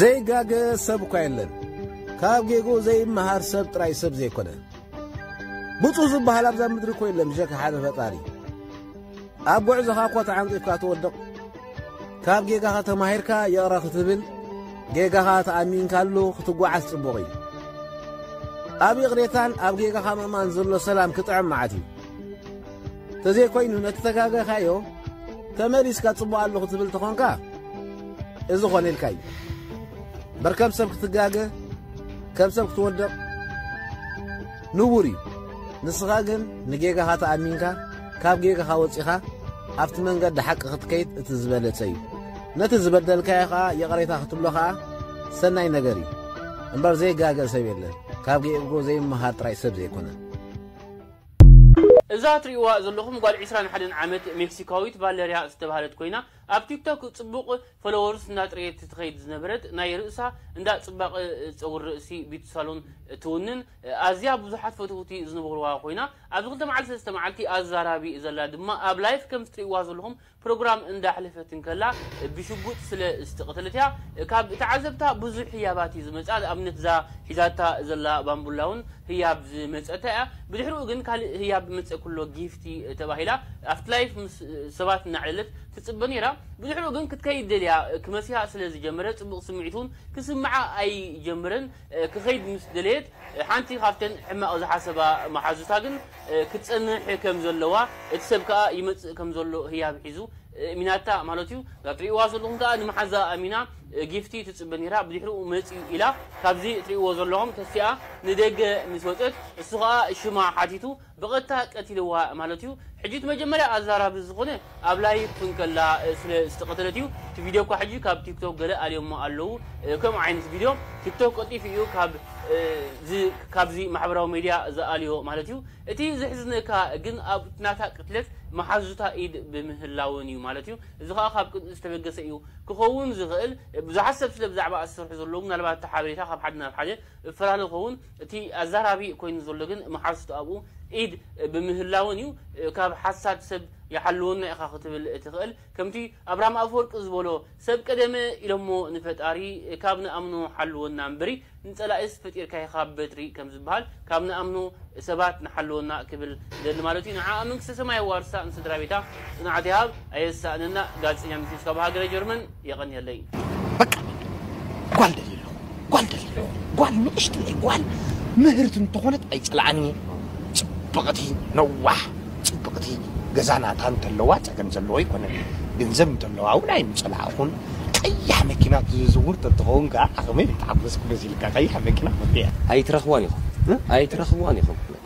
ዘይጋገ ሰብ እኳ የለን ካብ ጌጉ ዘይመሃር ሰብ ጥራይ ሰብ ዘይኮነ ብፁ ዝበሃል ኣብዛ ምድሪ እኮ የለን ብሸካ ሓደ ፈጣሪ ኣብ ጉዕዞኻ እኳ ተዓንቂፍካ ትወድቕ ካብ ጌጋኻ ተማሂርካ የቕረ ክትብል ጌጋኻ ተኣሚንካሉ ክትጓዓዝ ጽቡቕ እዩ ኣብ ይቕሬታን ኣብ ጌጋኻ ምእማን ዘሎ ሰላም ክጥዕም መዓት እዩ ተዘይኮይኑ ነቲ ተጋገኻዮ ተመሊስካ ጽቡቕ ኣለኹ ትብል ተኾንካ እዚ ኾነ ኢልካ እዩ በር ከም ሰብ ክትጋገ ከም ሰብ ክትወድቕ ንቡር እዩ ንስኻ ግን ንጌጋኻ ተኣሚንካ ካብ ጌጋኻ ወጺኻ ኣብቲ መንገዲ ሓቂ ክትከይድ እቲ ዝበለጸ እዩ ነቲ ዝበደልካዮ ኸዓ ይቕሬታ ክትብሎ ኸዓ ሰናይ ነገር እዩ እምበር ዘይጋገ ሰብ የለን ካብ ጌእጎ ዘይመሃር ጥራይ ሰብ ዘይኮነ እዛ ትሪእዋ ዘለኹም ጓል ዕስራን ሓደን ዓመት ሜክሲካዊት ቫለርያ ዝተባህለት ኮይና ኣብ ቲክቶክ ጽቡቕ ፎሎወርስ እንዳጥረየት ትኸይድ ዝነበረት ናይ ርእሳ እንዳ ጽባቐ ጸጉሪ ርእሲ ቢዩቲ ሳሎን ትውንን ኣዝያ ብዙሓት ፈተውቲ ዝንበሩዋ ኮይና ኣብዚ ክልተ መዓልቲ ሰለስተ መዓልቲ ኣዛራቢ ዘላ ድማ ኣብ ላይፍ ከምዚ ትሪእዋ ዘለኹም ፕሮግራም እንዳ ኣሕለፈት እንከላ ብሽጉጥ ስለ ዝተቀተለት እያ ካብ ተዓዘብታ ብዙሕ ህያባት እዩ ዝመጻ ንኣብነት እዛ ሒዛታ ዘላ ባንቡላ ውን ህያብ ዝመጸታ እያ ብድሕርኡ ግን ካልእ ህያብ መጸ ኩሎ ጊፍቲ ተባሂላ ኣፍትላይፍ ምስ ሰባት እናዕለለት ትጽበ ኔራ ብድሕርኡ ግን ክትከይድ ደልያ ክመስያ ስለ ዝጀመረ ጽቡቅ ስምዒት ውን ክስምዓ ኣይጀመረን ክከይድ ምስ ደለየት ሓንቲ ካብተን ሕማቕ ዝሓሰባ መሓዙታ ግን ክትጸንሕ ከም ዘለዋ፣ እቲ ሰብ ከኣ ይመጽእ ከም ዘሎ ህያብ ሒዙ እሚናታ ማለቱ'ዩ። እዛ ትርእይዋ ዘለኹም ከኣ ንመሓዛ ኣሚና ጊፍቲ ትጽበ ነይራ፣ ብድሕሪኡ መጺኡ ኢላ ካብዚ እትርእይዎ ዘለኹም ተሲኣ ንደገ ምስ ወጸት፣ እሱ ከኣ ሽማ ሓቲቱ ብቀጥታ ቀቲልዋ ማለት እዩ ሕጂ እቲ መጀመርያ ኣዛራቢ ዝኮነ ኣብ ላይቭ ን ከላ ስለ ዝተቀተለት እዩ እቲ ቪድዮ እኳ ሕጂ ካብ ቲክቶክ ገለ ኣልዮሞ ኣለዉ ከምኡ ዓይነት ቪድዮ ቲክቶክ ቀልጢፉ እዩ ካብ እዚ ካብዚ ማሕበራዊ ሜድያ ዝኣልዮ ማለት እዩ እቲ ዘሕዝነካ ግን ኣብ ናታ ቅትለት መሓዙታ ኢድ ብምህላወን እዩ ማለት እዩ እዚ ከኣ ካብ ቅንኢ ዝተበገሰ እዩ ክከውን ዝክእል ብዙሓት ሰብ ስለ ብዛዕባ ዝሰርሑ ዘለዉ ምናልባት እቲ ሓበሬታ ካብ ሓደ ናብ ሓደ እፈላለ ክከውን እቲ ኣዛራቢ ኮይኑ ዘሎ ግን መሓዙቱ ኣብኡ ኢድ ብምህላወን እዩ። ካብ ሓሳድ ሰብ ይሓልወና ኢኻ ክትብል ትኽእል። ከምቲ ኣብርሃም ኣፈወርቂ ዝበሎ ሰብ ቀደመ ኢሎሞ ንፈጣሪ ካብ ንኣምኖ ሓልወና እምብሪ ንጸላኢስ ፈጢርካዮ ካብ በትሪ ከም ዝበሃል ካብ ንኣምኖ ሰባት ንሓልወና ክብል ይደሊ ማለቱ እዩ። ንዓኣ መንግስተ ሰማይ የዋርሳ ንስድራቤታ ጽንዓት ይሃብ። ኣየሳእነና ጋዜጠኛ ሚስዮስ ካብ ሃገረ ጀርመን። የቐንየለይ። በቃ ጓል ደልየ ኣለኹ ጓል ደልየ ኣለኹ ጓል ንእሽተይ ጓል ምህርቲ እንተኾነት ኣይፅልኣን እየ ፅብቕቲ ነዋሕ ፅብቕቲ ገዛ ናታ እንተለዋ ፀገም ዘለዎ ኣይኮነን ገንዘብ እንተለዋ እውን ኣይምፀላእኹን ቀያሕ መኪና ትዝውር ተትኸውን ከዓ ዓቕመይ ምተሓጎስኩ መሲልካ ቀያሕ መኪና ኮንተ እያ ኣይትረኽቧን ኢኹም ኣይትረኽቧን ኢኹም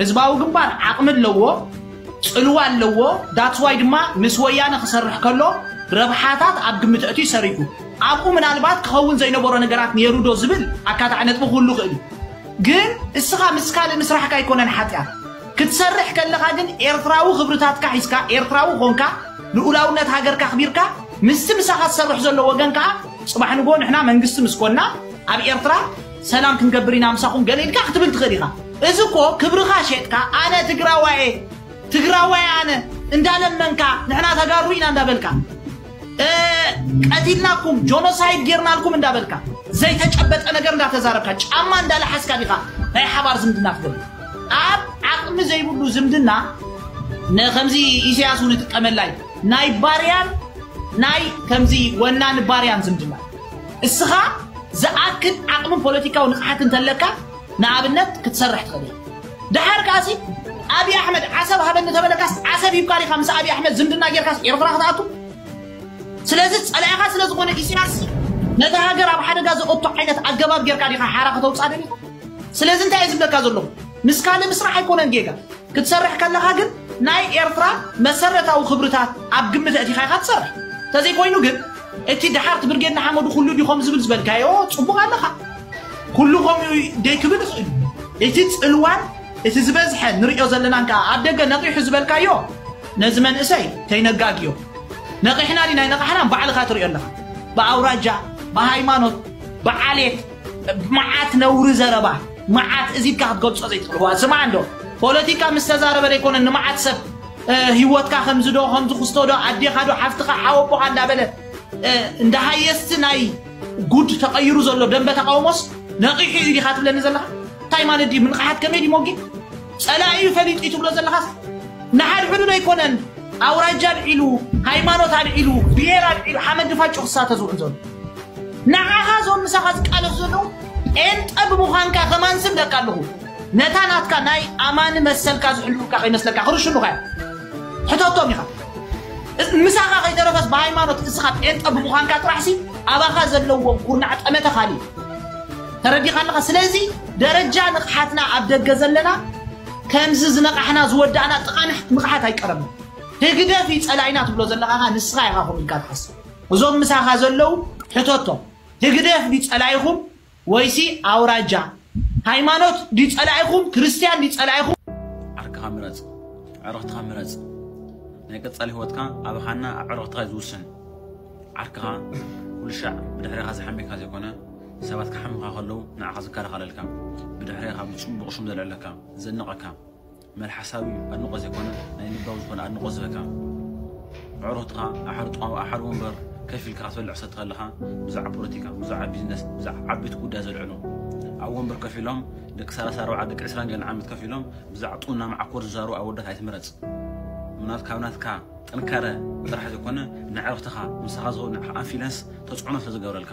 ህዝባዊ ግንባር ዓቕሚ ኣለዎ፣ ጽልዋ ኣለዎ፣ ዳትስ ዋይ ድማ ምስ ወያነ ክሰርሕ ከሎ ረብሓታት ኣብ ግምት ኣእትዩ ሰሪሑ። ኣብኡ ምናልባት ክኸውን ዘይነበሮ ነገራት ነይሩዶ ዝብል ኣካታዒ ነጥቢ ክህሉ ይኽእል እዩ። ግን እስኻ ምስ ካልእ ምስራሕካ ኣይኮነን ሓጢኣት። ክትሰርሕ ከለኻ ግን ኤርትራዊ ክብርታትካ ሒዝካ፣ ኤርትራዊ ኾንካ፣ ልኡላውነት ሃገርካ ኣኽቢርካ፣ ምስቲ ምሳኻ ዝሰርሕ ዘሎ ወገን ከኣ ጽባሕ ንግሆ ንሕና መንግስቲ ምስ ኮንና ኣብ ኤርትራ ሰላም ክንገብር ኢና ምሳኹም ገለ ኢልካ ክትብል ትኽእል ኢኻ። እዚ እኮ ክብርኻ ሼጥካ ኣነ ትግራዋይ እየ ትግራዋይ ኣነ እንዳለመንካ ንሕና ተጋሩ ኢና እንዳበልካ ቀቲልናኩም ጆኖሳይድ ጌርናልኩም እንዳበልካ ዘይተጨበጠ ነገር እንዳተዛረብካ ጫማ እንዳለሓስካ ዲኻ ናይ ሓባር ዝምድና ትገብር ኣብ ዓቕሚ ዘይብሉ ዝምድና ንከምዚ ኢሳያስ እውን ይጥቀመላ እዩ ናይ ባርያን ናይ ከምዚ ወናኒ ባርያን ዝምድና እስኻ ዝኣክል ዓቕምን ፖለቲካዊ ንቕሓት እንተለካ ንኣብነት ክትሰርሕ ትኽእል ኢኻ ደሓር ከኣሲ ኣብዪ ኣሕመድ ዓሰብ ሃበኒ ተበለካስ ዓሰብ ሂብካ ዲኻ ምስ ኣብዪ ኣሕመድ ዝምድና ጌርካስ ኤርትራ ክትኣቱ ስለዚ ጸላኢኻ ስለ ዝኾነ ኢሳያስ ነታ ሃገር ኣብ ሓደጋ ዘኦቶ ዓይነት ኣገባብ ጌርካ ዲኻ ሓራ ከተውፅኣ ደልዩ ስለዚ እንታይ እየ ዝብለካ ዘለኹ ምስ ካልእ ምስራሕ ኣይኮነን ጌጋ ክትሰርሕ ከለኻ ግን ናይ ኤርትራ መሰረታዊ ክብርታት ኣብ ግምት ኣእቲኻ ኢኻ ትሰርሕ እንተዘይኮይኑ ግን እቲ ደሓርቲ ብርጌድ ንሓመዱ ኩሉ ድዩ ከምኡ ዝብል ዝበልካዮ ጽቡቕ ኣለኻ ኩሉ ከምኡ ደይ ክብል ይኽእል እዩ እቲ ጽልዋን እቲ ዝበዝሐ ንሪኦ ዘለናን ከኣ ኣብ ደገ ነቒሑ ዝበልካዮ ነዚ መንእሰይ ከይነጋግዮ ነቒሕና ዲና ኣይነቓሕናን ባዕልኻ ትሪኦ ኣለኻ ብኣውራጃ ብሃይማኖት ብዓሌት መዓት ነውሪ ዘረባ መዓት እዚብካ ክትገልጾ ዘይትኽእል ስምዓ እንዶ ፖለቲካ ምስ ተዛረበ ደይኮነ ንመዓት ሰብ ሂወትካ ከምዚ ዶ ከምዚ ክስቶ ዶ ኣዴካ ዶ ሓፍትካ ሓወቦካ እንዳበለ እንዳ ሃየስቲ ናይ ጉድ ተቀይሩ ዘሎ ደንበ ተቃውሞስ ነቂሑ እዩ ዲካ ትብለኒ ዘለካ እንታይ ማለት ድዩ ምንቅሓት ከመይ ድዩ ሞጌ ጸላኢ እዩ ፈሊጡ እዩ ትብሎ ዘለካስ ንሓድሕዱ ዶ ኣይኮነን ኣውራጃ ኣልዒሉ ሃይማኖት ኣልዒሉ ብሄር ኣልዒሉ ሓመድ ድፋጩ ክሳተ ዝውዕል ዘሎ ንዓኻ እዞም ምሳኻ ዝቃለሱ ዘለዉ ጴንጠ ብምዃንካ ከማን ስም ደቃ ኣለኹ ነታ ናትካ ናይ ኣማኒ መሰልካ ዝሕልዉልካ ከይመስለካ ክርሽኑኻ እዮም ሕተቶም ኢኻ እስ- ምሳኻ ከይተረፈስ ብሃይማኖት እስኻ ጴንጠ ብምዃንካ ጥራሕሲ ኣባኻ ዘለዎም ኩርናዕ ጠመተ ካልእ እዩ ተረዲኻ ኣለኻ ስለዚ ደረጃ ንቕሓትና ኣብ ደገ ዘለና ከምዚ ዝነቓሕና ዝወዳእና ጥቓ ንሕ- ንቕሓት ኣይቀረብን ህግደፍ እዩ ጸላኢና ትብሎ ዘለኻ ኸኣ ንስኻ ኢኻ ከምኡ ኢልካ ትሓስብ እዞም ምሳኻ ዘለዉ ሕተቶም ህግደፍ ድዩ ጸላኢኹም ወይሲ ኣውራጃ ሃይማኖት ድዩ ጸላኢኹም ክርስትያን ድዩ ጸላኢኹም። ዓርክኻ ምረጽ ኣዕርኽትኻ ምረጽ ናይ ቀጻሊ ሂወትካ ኣብ ሃና ኣዕርኽትኻ እዩ ዝውስን ዓርክኻ ኩልሻዕ ብድሕሬኻ ዝሓምየካ ዘይኮነ ሰባት ክሓምኻ ከለው ንዓኻ ዝከላኸለልካ ብድሕሬኻ ብጽቡቕ ሽም ዘልዕለካ ዘድንቐካ መልሓሳዊ ኣድንቆት ዘይኮነ ናይ ልባዊ ዝኮነ ኣድንቆት ዝህበካ ኣዕሩክትካ ኣብ ሓደ ጥዋም ኣብ ሓደ ወንበር ከፍ ኢልካ ክትበልዕ ሰቲ ከለካ ብዛዕባ ፖለቲካ ብዛዕባ ቢዝነስ ብዛዕባ ዓበይቲ ጉዳይ ዘልዕሉ ኣብ ወንበር ከፍ ኢሎም ደቂ ሰላሳ ኣርባዓ ደቂ ዕስራን ገለን ዓመት ከፍ ኢሎም ብዛዕባ ጡና መዓኮር ዝዛረቡ ኣወዳት ኣይትምረጽ ምናት ካብ ናትካ ጥንካረ ጥራሕ ዘይኮነ ንዕርክትኻ ምሳኻ ዝኸው ንዓኻ ኣንፊለንስ ተጽዕኖ ስለዝገብረልካ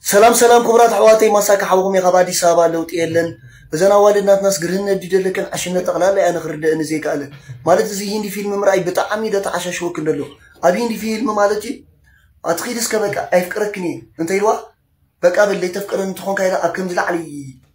ሰላም ሰላም ኩቡራት ኣሕዋተይ ማሳኪ ሓውኩም እየ ካብ ኣዲስ ኣበባ ለውጢ የለን እዘን ኣዋልድ ናትናስ ግርህነት ድዩ ደለክን ዕሽነት ጠቅላላ እያ ንክርደእኒ ዘይክኣለ ማለት እዚ ሂንዲ ፊልም ምርኣይ ብጣዓሚ ደተዓሻሽወክን ደሎ ኣብ ሂንዲ ፊልም ማለት እዩ ኣትኪዲ እስከ በቃ ኣይፍቅረክን እየ እንተኢልዋ በቃ በል ለይተፍቅረኒ ተኮንካ ኢላ ኣብ ከምዚ ላዕሊ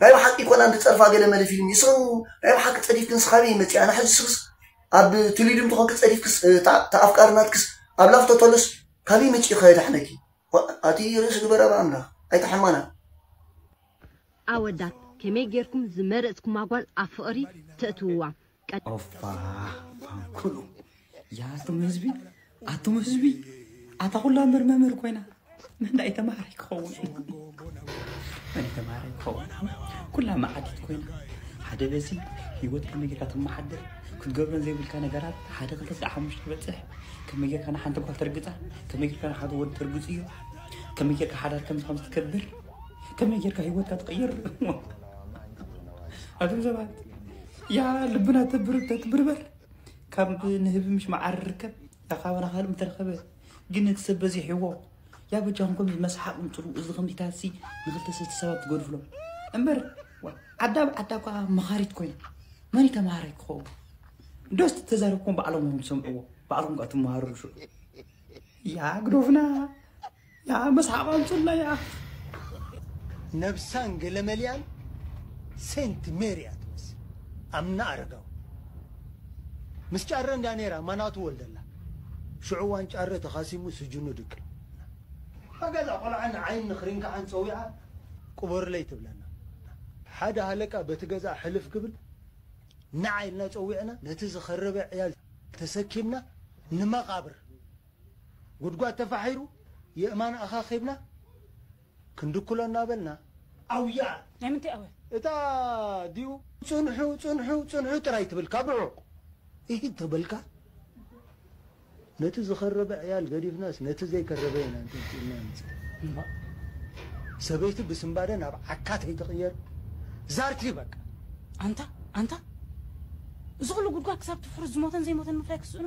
ናይ ብሓቂ ኮን ኣንዲ ጸርፋ ገለ መለ ፊልም ይስሩ ናይ ብሓቂ ጸዲፍክንስ ካበይ መጺኣ ኣነ ሕጂ ስክስ ኣብ ትሊድምቲ ኮንኪ ጸዲፍክስ እታ እታ ኣፍቃሪ ናትክስ ኣብ ላፍቶ ተሎስ ካበይ መጺኡ ከ የዳሕነኪ ኣቲ ርእሲ ግበራ ብኣምላክ ኣይተሐማና። ኣወዳት ከመይ ጌርኩም ዝመረጽኩማ ጓል ኣብ ፍቕሪ ተእትውዋ ኦፋ ፋንኩሉ ያቶም ህዝቢ ኣቶም ህዝቢ ኣታ ኩላ ምር መምህር ኮይና ምንዳይ ተማሃረ ይኸውን መን ተማሃረ ይኸውን ኩላ መዓዲት ኮይና ሓደ በዚ ህይወት ከመይ ጌርካ ተመሓድር ክትገብረን ዘይብልካ ነገራት ሓደ ክልተ ስለ ሓሙሽተ ክበፅሕ ከመይ ጌርካ ንሓንቲ ጓል ተርግፃ ከመይ ጌርካ ንሓደ ወዲ ተርግፅ እዩ ከመይ ጌርካ ሓዳር ከምዚ ከምዚ ትገብር ከመይ ጌርካ ህይወትካ ትቕይር ኣቶም ሰባት ያ ልብና ተብርህ ተትብርበር ካብ ንህቢ ምሽ መዓር ርከብ ያ ካባና ካልእ ምተረኸበ ግን እቲ ሰብ በዚሕዎ ያ በጃኹም ከምዚ መስሓቕ ምፅሩ እዚ ከምዚታሲ ንክልተ ሰለስተ ሰባት ትገድፍሎ እምበር ዋ፣ ዓዳ ብ ዓዳ እኳ መኻሪት ኮይና መን እዩ ተምሃራይ ክኸውን ዶስ ተዛረብኩም ባዕሎም እዮም ዝሰምዕዎ ባዕልኩም ከዓ ትመሃርሉ ሽዑ ያ ግዶፍና ያኣ መስሓቕ ኣምጹልና ያኣ። ነብሳን ገለመሊኣን ሴንት ሜሪ እያ ትመስል ኣምና ኣረጋዊ ምስ ጫረ እንዳ ነራ ማናቱ ወልደላ ሽዑ እዋን ጫረ ተኻሲሙ ስጁኑ ድቅል ሓጋዛ ቆልዓ ንዓይን ንክሪንካዓን ጸዊዓ ቅበሩለይ ትብለና ሓደ ሃለቃ በቲ ገዝኣ ሕልፍ ክብል ንዓ ኢልና ጸዊዕና ነቲ ዝኸረበ ዕያል ተሰኪምና ንመቓብር ጉድጓድ ተፋሒሩ የእማን ኣኻኺብና ክንድኩሎ እናበልና ኣውያ! ናይ ምንታይ ኣውያ? እታ ዲዩ ጽንሑ ጽንሑ ጽንሑ ጥራይ ትብል ካብ ርሑቕ ኢሂ ተበልካ ነቲ ዝኸረበ ዕያል ገዲፍናስ ነቲ ዘይከረበ ኢና ኣንጠልጢልና መጺና እምባእ ሰበይቲ ብስንባደ ናብ ዓካ ተይትቕየር ዛርቲ በቃ! ኣንታ ኣንታ እዚ ኹሉ ጉድጓድ ክሳብ ትፍርስ ዝሞተን ዘይሞተን ምፍላይ ክስእኖ?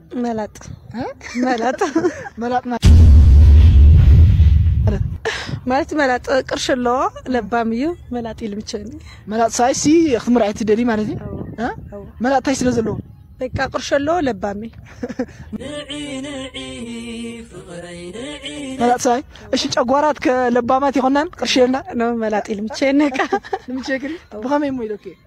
መላጥ መላጥ መላጥ ማለት መላጥ ቅርሽ ኣለዎ ለባም እዩ መላጥ ኢሉ ምቸኒ መላጥ ሳይ ሲ ክትምርዓይ ትደሊ ማለት እዩ እ? መላጥ ታይ ስለ ዘለዎ በቃ ቅርሽ ኣለዎ ለባም እዩ መላጥ ሳይ እሺ ጨጓራት ከለባማት ይኮናን ቅርሽ የልና ኖ መላጥ ኢሉ ምቸኒ ቃ ንምቸክሪ ብኸመይ እሞ ኢለኪ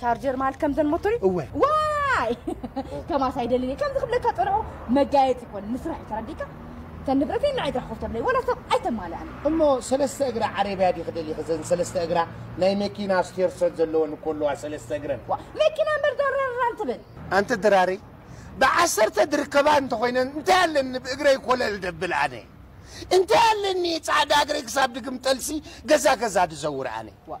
ቻርጀር ማለት ከምዘን ሞቶሪ እወ ዋይ ከማስ ኣይደልን እየ ከምዚ ክብለካ ፀንሖ መጋየፂ ይኮን ንስራሕ እዩ ተረዲእካ እተን ንብረተይ ንዓይ ጥራሕ ኮፍ ተብለይ ወላ ሰብ ኣይተማልኣን እሞ ሰለስተ እግራ ዓረብያ ዲኺ ደሊኺ እዘን ሰለስተ እግራ ናይ መኪና ስቴር ሰት ዘለወን እኮ ኣለዋ ሰለስተ እግረን ዋ መኪና እምበር ዳራራን ትብል ኣንቲ ድራሪ ብዓሰርተ ዝርከባ እንተኾይነን እንታይ ኣለኒ ብእግረይ ኮለል ደብል ኣነ እንታይ ኣለኒ ጻዕዳ እግረይ ክሳብ ድግም ጠልሲ ገዛ ገዛ ድዘውር ኣነ ዋ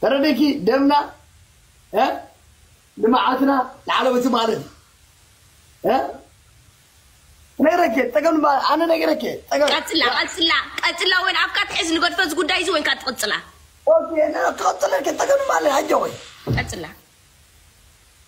ተረዲእኪ ደምና እ ልምዓትና ንዓለም እትማልእ እ ነግረኪ ፀገም ድማ ኣነ ነግረኪ እየ ፀገም ቀጽላ ቀጽላ ቀጽላ ወይን ኣብካ ትሕዝ ንገድፎ እዚ ጉዳይ እዚ ወይንካ ትቕጽላ ኦኬ ነ- ክቐፅለልኪ ፀገም ድማ ኣለ ኣጀወይ ቀጽላ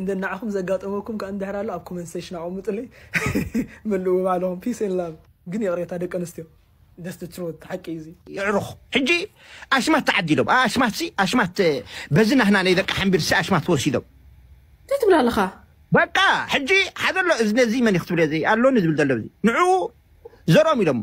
እንተ ንዓኹም ዘጋጠመኩም ከኣ እንድሕር ኣሎ ኣብ ኮመንት ሰሽን ኣቐሙጡለይ መልእዎ ባዕልኹም ፒስ ኤንድ ላቭ። ግን ይቕሬታ ደቂ ኣንስትዮ that's the truth ሓቂ እዩ እዚ። የዕሩኽ ሕጂ ኣሽማት ተዓዲሎም ኣኣሽማትሲ ኣሽማት በዚ ናህና ነይ ደቂ ሓምቢርሲ ኣሽማት ወሲዶም። እንታይ ትብል ኣለኻ? በቃ ሕጂ ሓደ ኣሎ እዚ ነዚ መን እዩ ክትብልዮ ዘይ ኣሎኒ ዝብል ዘሎ እዚ ንዑኡ ዘርኦም ኢሎሞ።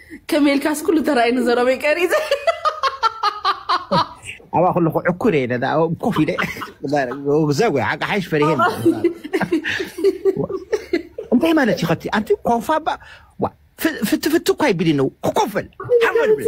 ከመይ ኢልካስ ኩሉ ተራእዩ ንዘረበይ ቀሪፀ ኣብኣ ከለኩ ዕኩር እየ ነዳ ኮፍ ኢለ ዘጉ ሓቂ ሓይሽ ፈሪሄ እንታይ ማለት እዩ ከቲ ኣንቲ ኮፋ ባ ፍትፍት እኳ ይብሊ ነው ክኮፍ በል ሓወል ብል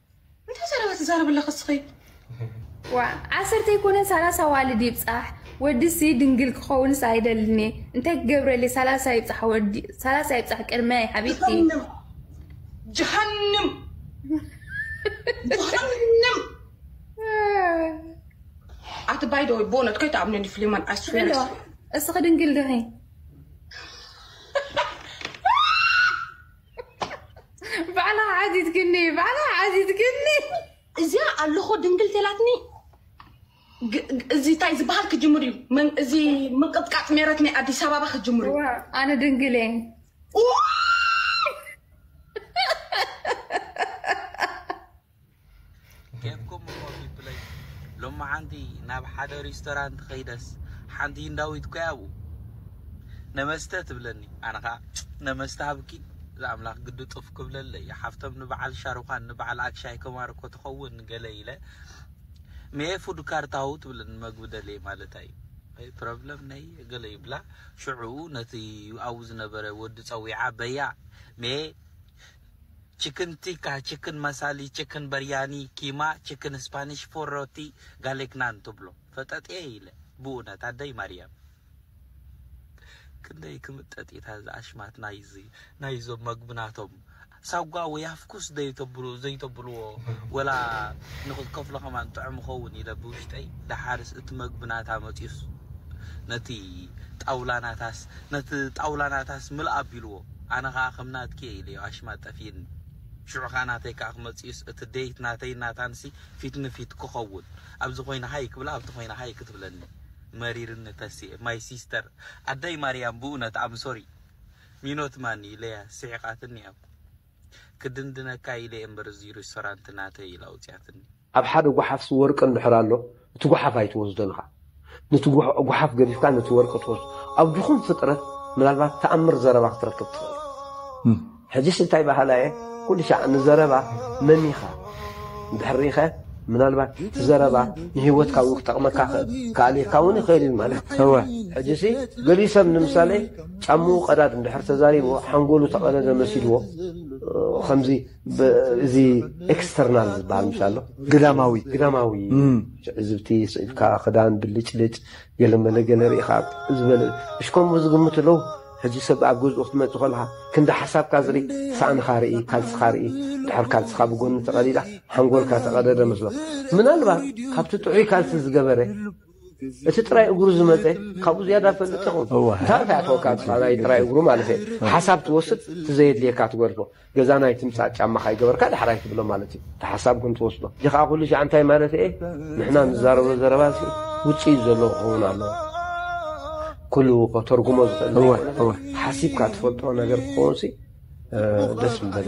እንታይ ዘረባ ትዛረብ ኣለኺ እስኺ? ዋእ ዓሰርተ ኣይኮነን ሰላሳ ኣዋልድ ይብጻሕ ወድሲ ድንግል ክኸውንስ ኣይደልን እየ እንታይ ክገብረልየ ሰላሳ ይብጻሕ ወዲ ሰላሳ ይብጻሕ ቅድመይ ሓቢብቲ ጀሃንም ጀሃንም ጀሃንም ኣቲ ባይ ደ ወይ ቦነት ከይትኣብነኒ ፍሊማን ኣስፌር ድንግል እስኺ ድንግል ድኺ ባዕላ ዓዚትክኒ ባዕላ ዓዚትክኒ እዚያ ኣለኾ ድንግል ቴላትኒ እዚ እንታይ ዝበሃል ክጅምር እዩ እዚ ምንቅጥቃጥ ሜረት ናይ ኣዲስ ኣበባ ክጅምር እዩ ኣነ ድንግል እየ ጌፍኩም እሞ ፒፕለይ ሎማዓንቲ ናብ ሓደ ሪስቶራንት ከይደስ ሓንቲ ህንዳዊት ኮይ ኣብኡ ነመስተ ትብለኒ ኣነ ከዓ ነመስተ ሃብኪ ዝኣምላኽ ግዲ ጡፍ ክብለለይ ሓፍቶም ንበዓል ሻሩኻን ንበዓል ኣክሻይ ከማር እኮ ትኸውን ገለ ኢለ ሜ ፉድ ካርታው ትብለኒ መግቢ ደልየ ማለት እዩ ወይ ፕሮብለም ነይ ገለ ይብላ ሽዑ ነቲ ኣብኡ ዝነበረ ወዲ ፀዊዓ በያ ሜ ቺክን ቲካ፣ ቺክን መሳሊ፣ ቺክን በርያኒ፣ ኪማ፣ ቺክን ስፓኒሽ፣ ፎር ሮቲ፣ ጋሌክ ናን ትብሎ ፈጠጥየ ኢለ ብኡነት ኣደይ ማርያም ክንደይ ክምጠጥ ኢታ እዛ ኣሽማት ናይዚ ናይዞም መግቢ ናቶም ሳጓ ወይ ኣፍኩስ ዘይተብሉ ዘይተብልዎ ወላ ንክትከፍሎ ከማን ጥዑም ይኸውን ኢለ ብውሽጠይ ደሓርስ እቲ መግቢ ናታ መጺኡስ ነቲ ጣውላ ናታስ ነቲ ጣውላ ናታስ ምልእ ኣቢልዎ ኣነ ከኣ ከም ናትኪ እየ ኢለዮ ኣሽማ ጠፊእኒ ሽዑ ከኣ ናተይ ከኣ ክመጽእዩስ እቲ date ናተይን ናታንሲ ፊት ንፊት ክከውን ኣብዚ ኮይነ ሃይ ክብላ ኣብቲ ኮይነ ሃይ ክትብለኒ መሪርኒ ተስየ my sister ኣደይ ማርያም ብኡነት I'm sorry ሚኖት ማን ኢለያ ስሒቃትኒ ኣብ ክድንድነካ ኢለ እየ እምበር እዚ ሪስቶራንት ናተይ ኢላ ኣውጽያትኒ። ኣብ ሓደ ጓሓፍሲ ወርቂ እንድሕር ኣሎ እቲ ጓሓፍ ኣይትወስዶን ኢኻ ነቲ ጓሓፍ ገዲፍካ ነቲ ወርቂ ትወስዶ ኣብ ድኹም ፍጥረት ምናልባት ተኣምር ዘረባ ክትረክብ ትኽእል ሕጂስ እንታይ በሃላ እየ ኩሉ ሻዕ ንዘረባ መን ኢኻ እንድሕር ሪኢኸ ምናልባት እቲ ዘረባ ንህይወትካ እውን ክጠቕመካ ክኣልየካ እውን ይኽእል እዩ ማለት እወ ሕጂሲ ገሊኡ ሰብ ንምሳሌ ጫምኡ ቀዳድ እንድሕር ተዛሪብዎ ሓንጎሉ ተቐደደ መሲልዎ ከምዚ እዚ ኤክስተርናል ዝበሃል ምሽ ኣሎ ግዳማዊ ግዳማዊ ትዕዝብቲ ስዒብካ ክዳን ብልጭልጭ ገለ መለ ገለ ርኢኻ ዝበለ እሽ ከምኡ ዝግምቱ ኣለዉ ሕጂ ሰብ ኣብ ገዝኡ ክትመፅእ ከለኻ ክንዲ ሓሳብካ ዝርኢ ሳእንኻ ርኢ ካልስኻ ርኢ ድሕር ካልስኻ ብጎኒ ተቐዲዳ ሓንጎልካ ተቐደደ መስሎ ምናልባት ካብቲ ጥዑይ ካልሲ ዝገበረ እቲ ጥራይ እግሩ ዝመፀ ካብኡ ዝያዳ ፈልጥ ይኹን እንታይ እንታይ ተወካ ናይ ጥራይ እግሩ ማለት እዩ ሓሳብ ትወስድ ትዘየድልየካ ትገድፎ ገዛ ናይ ትምፃእ ጫማ ካይገበርካ ዳሕራይ ትብሎ ማለት እዩ እቲ ሓሳብ ግን ትወስዶ እዚ ከዓ ኩሉ ሻዕ እንታይ ማለት እየ ንሕና ንዛረቦ ዘረባ ሲ ውፅኢት ዘለዎ ክኸውን ኣለዎ ኩሉ ከተርጉሞ ዝኽእል ሓሲብካ ትፈልጦ ነገር ክኸውን ሲ ደስ ምበለ